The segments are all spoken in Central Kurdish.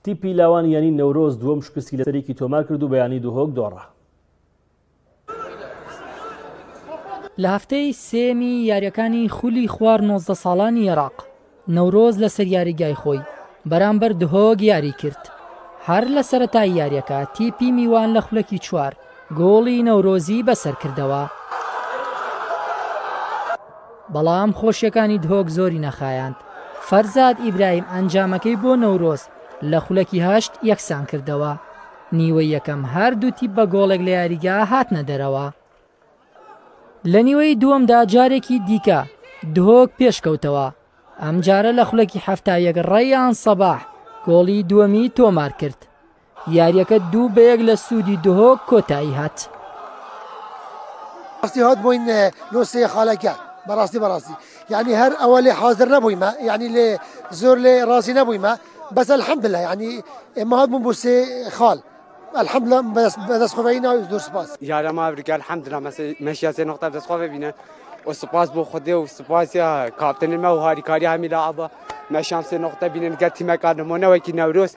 تیپی لاوان یانەی نەورۆز دووەم شکستی لە سەرێکی تۆمار کرد و بە یانەی دهۆک دۆڕا. لە هەفتەی سێیەمی یارییەکانی خولی خوار نۆزدە ساڵانی ئێراق، نەورۆز لەسەر یاریگای خۆی بەرامبەر دهۆک یاریی کرد، هەر لە سەرەتای یارییەکە تیپی میوان لە خولەکی چوار گۆڵی نەورۆزی بەسەرکردەوە بەڵام خۆشیەکانی دهۆک زۆری نەخایاند فەرزاد ئیبراهیم ئەنجامەکەی بۆ نەورۆز لە خولەکی هەشت یەکسان کردەوە نیوە یەکەم هەردوو تیپ بە گۆڵێک لە یاریگا هاتنە دەرەوە لە نیوەی دووەمدا جارێکی دیکە دهۆک پێشکەوتەوە ئەم جارە لە خولەکی هەفتا یەک ڕێیان سەباح گۆڵی دووەمی تۆمار کرد یاریەکە دوو بە یەک لە سوودی دهۆک کۆتایی هات. ڕاستی هات بۆین لۆ سێ خالەکە بەڕاستی بەڕاستی یعنی هەر ئەوە لێ حاضر نەبوویمە یعنی لێ زۆر لێ ڕازی نەبوویمە بەس الحمد لله یعنی ئێمە هات بووم بۆ سێ خال الحمد لله بەدەست خۆبایی ناوی زۆر سپاس یارە ماورگە الحمد لله مەشیا سێ نقطە دەست خۆ ببینە و سپاس بۆ خودێ و سپاسیا کاپتنمە و هاریکاری هەمی لاعبە مەشام سێ نقطە بینن گەر تیمەکان نمونەوەکی نەورۆست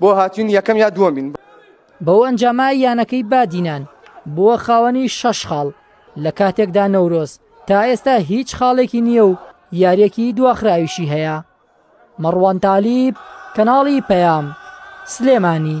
بۆ هاتوین یەکەم یا دووەمین. بەو ئەنجامە یانەکەی بادینان بووە خاوەنی شەش خاڵ، لە کاتێکدا نەورۆز تا ئێستا هیچ خاڵێکی نییە و یارییەکی دواخراویشی هەیە. مەڕوان تالیب، کەناڵی پەیام، سلێمانی.